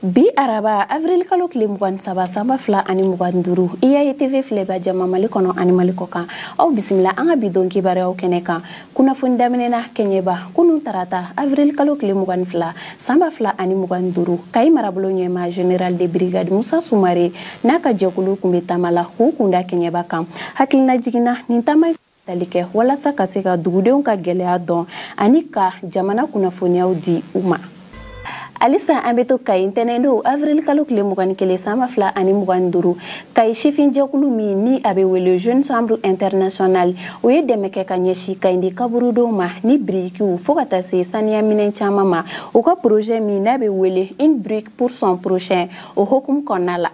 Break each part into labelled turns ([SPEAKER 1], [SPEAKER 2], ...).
[SPEAKER 1] bi araba avril kalo tile mugan saba sanba fila ani mugan duru iai tv filɛba jama mali kɔnɔ ani mali kɔkan aw bisimila an ka bi don kibaruyaw kɛnɛ kan kunnafoni daminɛna kɛɲɛba kunu tarata avril kalo tile mugan fila sanba fila ani mugan duru kayi marabolo ɲɛmaa general de brigade musa sumare n'a ka jɛkulu kun bɛ taama la k'u kunda kɛɲɛba kan hakilina jiginna nin taama tali kɛ walasa ka se ka dugudenw ka gɛlɛya dɔn ani ka jamana kunnafoniyaw di u ma halisa an bɛ to kayi ntɛnɛndon avril kalo tile mugani kelen sanba fila ani mugani duuru kayi sifin jɛkulu min ni a bɛ wele jeune chambre internationale o ye dɛmɛ kɛ ka ɲɛsi kayindi kaburudenw ma ni birikiw fɔɔ ka taa se saniya minɛn caman ma u ka projet min n'a bɛ wele une brique pour son prochain o hokumu kɔnɔna la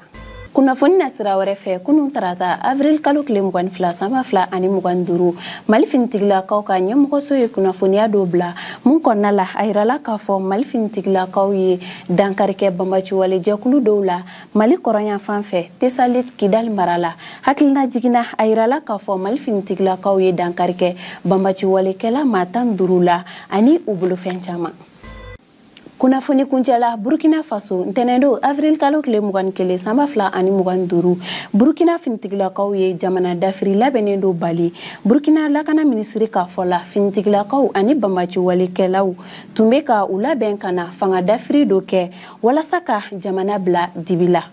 [SPEAKER 1] kunnafoni nasira wɛrɛ fɛ kunu tarata avril kalo tile mugani fila sanba fila ani mugani duru mali finitigilakaw ka ɲɛmɔgɔso ye kunnafoniya dɔ bila min kɔnɔna la a yirala k'a fɔ mali finitigilakaw ye dankari kɛ banbaciwale jɛkulu dɔw la mali kɔrɔnyanfan fɛ tesalit kidali mara la hakilina jiginna a yirala k'a fɔ mali finitigilakaw ye dankari kɛ banbaciwalekɛla maa tan duru la ani u bolofɛn caman kunnafoni kuncɛla burkina faso ntɛnɛndon avril kalo tile mugan kelen sanba fila ani mugan duuru burkina finitigilakaw ye jamana dafiri labɛnnen dɔ bali burkina lakana minisiri ka fɔ la finitigilakaw ani banbaciwalekɛlaw tun be ka u labɛn ka na fanga dafiri dɔ kɛ walasa ka jamana bila dibi la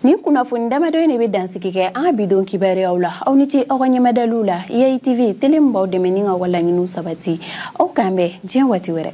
[SPEAKER 1] nin kunnafoni damadɔ in de bɛ dansigi kɛ an ka bidon kibaruyaw la aw ni ce aw ka ɲɛmadali la iai tv tele min b'aw dɛmɛ ni ka aw ka laɲiniw sabati aw k'an bɛn diɲɛ waati wɛrɛ